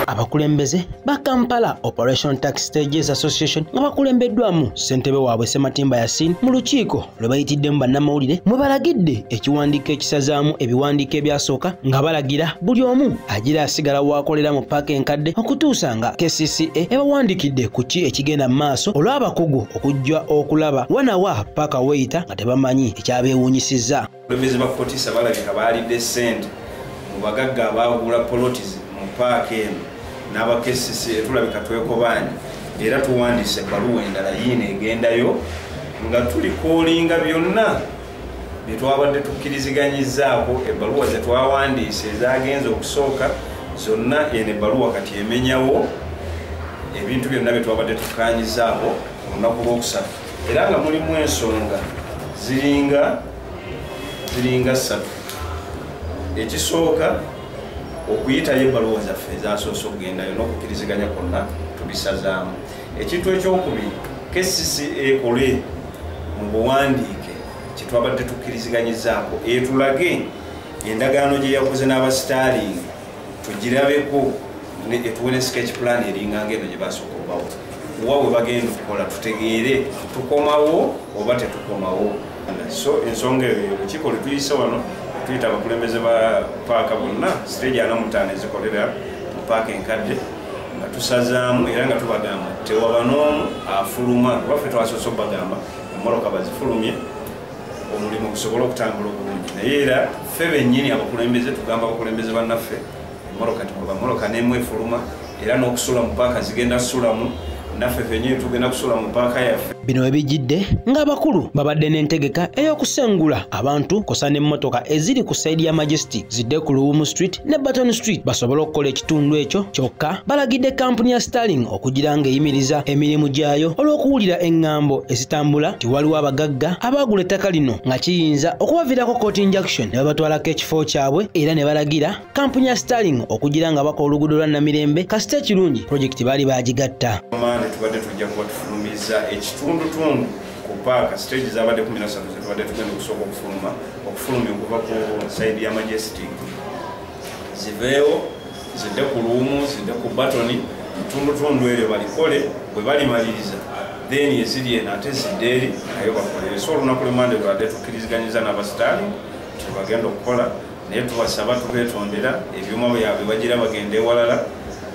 abakulembeze ba kampala operation tax stages association nga bakulembeddwamu ssentebe waabwe sematimba yasin mu lukiiko lwe bayitiddemu bannamawulire mwe balagidde ekiwandiiko ekisazaamu ebiwandiiko ebyasooka nga balagira buli omu agira asigala waakolera mu paaka enkadde okutuusa nga kcca ebawandikidde ku ki ekigenda mu maaso olw'abakugu okujja okulaba wanawa paaka weyita nga tebamanyi ekyabeewuunyisizza Abakulembeze ba Kotisa balabika baalidde ssente mu bagagga abaagula poloti mu paaka eno n'abakesisi etulabika twekobaanye era tuwandiise ebbaluwa endala yiino egendayo nga tuli koolinga byonna bye twabadde tukkiriziganyizaako ebbaluwa ze twawandiise ezaagenza okusooka zonna eno ebbaluwa kati emenyawo ebintu byonna bye twabadde tukkaanyizaako olunaku lw'okusatu era nga mulimu ensonga ziringa ziringa ssatu ekisooka okuyitayo ebbaluwa zaffe ezasoose okugendayo n'okukiriziganya kwonna tubisazaamu ekintu ekyokubiri kcc ekole mu buwandiike kyetwabadde tukkiriziganyizaako etulage endagaano gye yakoze n'abasitaalingi tugirabeko etuwe ne sketch plan eringanga eno gye basooka obawo wa we bagenda okukola tutegeere tukomawo oba tetukomawo so ensonga eyo olukiiko lwe tuyise wano tuyita abakulembeze ba paaka bonna siteegi ana mutaano ezikolera mu paaka enkadde nga tusazaamu era nga tubagamba tewaba n'omu afuluma kuba ffe twasoose okubagamba emmotoka bazifulumye omulimu gusobole okutambula obulungi naye era ffe bennyini abakulembeze tugamba abakulembeze bannaffe emoroka tikuba moroka nemu efuluma era n'okusula mu paaka zigenda sulamu naffe fenyini tugenda kusula mu paaka yaffe bino webijidde ng'abakulu babadde n'entegeka ey'okusengula abantu kosa n'emmotoka eziri ku sayidi ya majestic zidde ku luwumu street ne Burton Street basobole okukola ekitundu ekyo kyokka balagidde kampuni ya Starling okugira ng'eyimiriza emirimu gyayo olw'okuwulira eŋŋambo ezitambula nti waliwo abagagga abaagula ettaka lino nga kiyinza okubaviirako court injunction ne babatwalako ekifo kyabwe era ne balagira kampuni ya Starling okugira nga bakola oluguudo lwa Namirembe kasita ekirungi pulojekiti baali baagigatta. Tubadde tujja kuba tufulumizza ekitundutundu ku paaka stage zabadde kumi nasatu zetubadde tugenda okusooka okufuluma okufulumya okuva ku saidi ya majestic ziveewo zidde ku luumu zidde ku batoni mutundutundu eryo balikole bwe balimaliriza then eziri eno ate zidde eri nayo bakolere so olunaku lwemande lwade tukkiriziganyiza n'abasitaali tebagenda okukola naye tubasaba tubetondera ebyuma byabwe bagira bagenda ewalala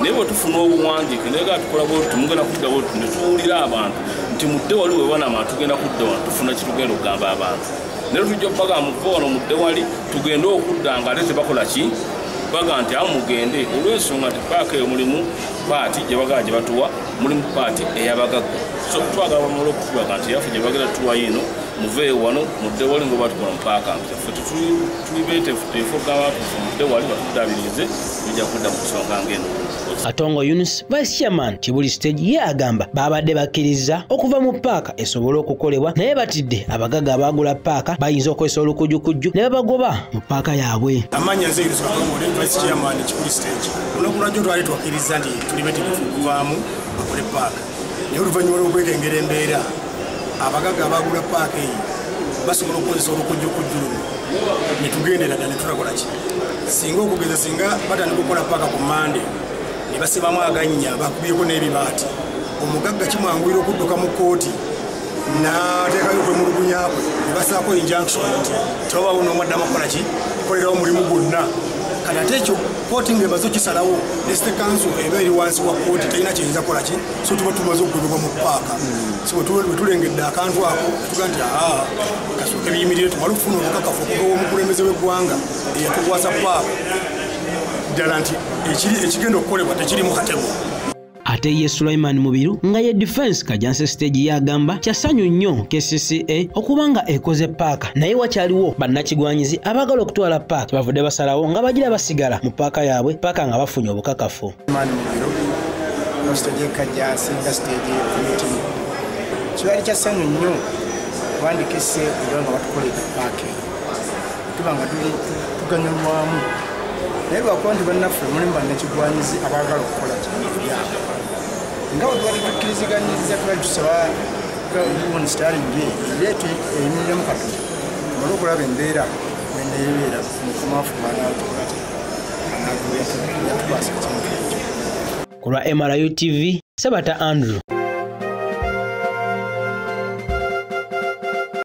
naye bwe tufuna obuwandiike naye ga tukola bwetu mugenda kudda bwetu ne tuwulira abantu nti mudde wali we banama tugenda kudda wano tufuna kitugenda okugamba abantu naye tujja okubaga muve wano mudde wali tugende okudda nga ate tebakola ki baga nti awo mugende olw'ensonga nti paaka eyo mulimu paati gye bagala gye batuwa mulimu paati eyabagagga so twagala bamala okutulaga nti yaffe gye bagenda tuwayo eno muveeyo wano mudde wali ngoba tukola mu paaka nti ffe tetuli betefuteefu ogamba nti mudde wali batudabirize tujja kudda mu nsonga ng'eno atongo yunus vice chairman kibuli stage ye agamba baabadde bakkirizza okuva mu paaka esobole okukolebwa naye batidde abagaga abaagula paaka bayinza okozesa olukujukujju ne babagoba mu paaka yaabwe amanya nze yunus atongo ne vice chairman kibuli stage olunaku lwajjo twali twakkiriza nti tuli betegefu okuvaamu bakole paaka naye oluvannyuma lw'okwekengera embeera abagagga abaagula paaka eyo basobola okukozesa olukujjukujju luno ne tugendera dda ne tulakola ki singa okugeza singa batandika okukola paaka ku mande ne basibamu agannya bakubyeko n'ebibaati omugagga kimwanguyira okudduka mu kkooti nateekayo okwemulugunya kwe ne basaako injunction nti tebabawo n'omu addamu okukola ki kukolerawo omulimu gwonna kati ate ekyo kooti nga emaze okisalawo nesite kanso eba eri wansi wa kooti terina kiyinza kukola ki so tuba tumaze okugobebwa mu paaka so wetulengedde akantu ako tuga nti aa kasooka ebiyimirire tumale okufuna obukakafu okuva omukulembeze w'eggwanga eyatukwasa paaka ddala nti ekigenda okukolebwa tekirimu katemu ate ye sulaiman mubiru nga ye defense kajanse stage yagamba kyasanyu nnyo kcca okuba nga ekoze paaka naye wakyaliwo bannakigwanyizi abagala okutwala paaka kyebavudde basalawo nga bagira basigala mu paaka yaabwe paaka nga bafunye obukakafu kibali kyasanyu nnyo kubandikese nga batukolede paaka tuba nga tuganyulwamu naye lwakuba nti bannaffe mulimu bannakigwanyizi abaagala okukola kyabyabo nga wetubadde tukkiriziganyiriza tubali tusaba gavumenti sitalingi eyo ereete emiremu katonda mala okulaba embeera neneebeera mukumafu banaatukwata anaagubeetukwasa ekintu ekyo ku lwa mru tv sebata andrew